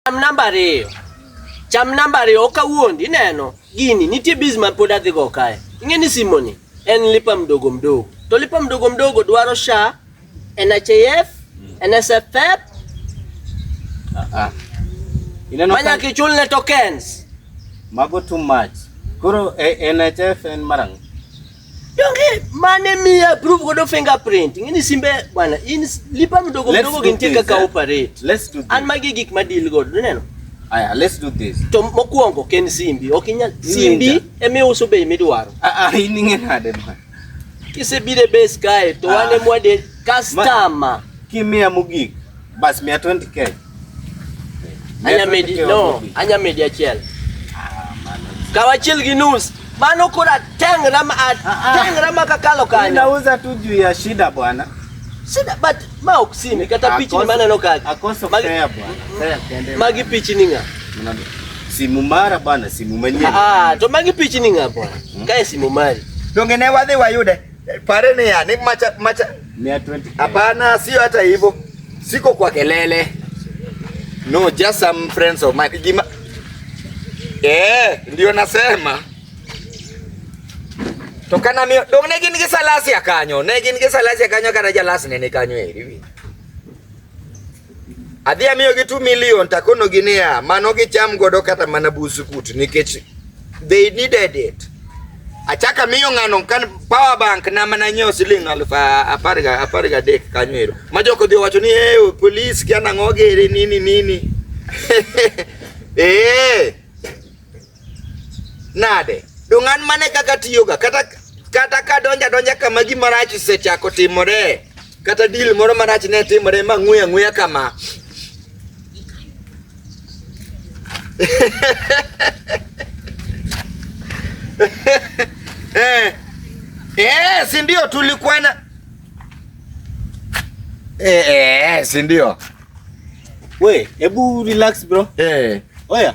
Cham namba ariyo. Cham namba ariyo ok awuondi ineno gini nitie biz ma pod adhi go kae. Ing'e ni simoni en lipa mdogo mdogo. To lipa mdogo mdogo dwaro SHA, NHIF, NSSF. Ah. Ineno Manya ka kichul ne tokens. mago too much. Koro eh, NHF en marang'. Donge mane mi approve godo fingerprint. Ngini simbe bwana, in lipa mdogo mdogo kintie kaka eh? operate. Let's do this. An magi gik ma deal godo, uneno? Aya, let's do this. To mokuongo ken simbi, ok inyal simbi eme uso bei midwaro. Ah ah, in ing'e nade ma. Kisebire base kae to ah. wane mwade customer. Kimia mugik. Bas mia 20k. Anya medi no, anya medi achiel. Ah, Kawa achiel gi nus. Mano kura tengra ma ah, ah. tengra ma kakalo kanyo. Ninauza tu juu ya shida bwana. Shida but ma oksini kata pichi ni maana no kaka. Akoso fair bwana. Fair Magi pichi ni nga. Simu mara bwana, simu mwenyewe. Ah, to magi pichi ni nga bwana. Hmm? Kae simu mari. Dongene wadhi wayude. Eh, pare ni ya, ni macha macha. Hapana, sio hata hivyo. Siko kwa kelele. No, just some friends of mine. Gima... Eh, ndio nasema. Tokana mio, dong ne gin gi salasi akanyo, ne gin gi salasi akanyo kata jalasi ne ne kanyo eri. Adhi amiyogi 2 million takonogi niya, mano gicham godo kata mana buskut nikech they needed it. Achaka miyo ng'ano kan power bank na mana nyiewo siling alufu apar ga apar ga dek kanyo ero. Ma joko dhi wacho ni eh oh, police kia nang'o gere nini nini. Eh. Nade? Donge an mane kaka tiyoga kata kata ka donja donja kama gima rach osechako timore kata dil moro marach ne timore ma ng'we ang'weya kama eh, eh, si ndio tulikwana eh, eh, si ndio we hebu relax bro eh. oya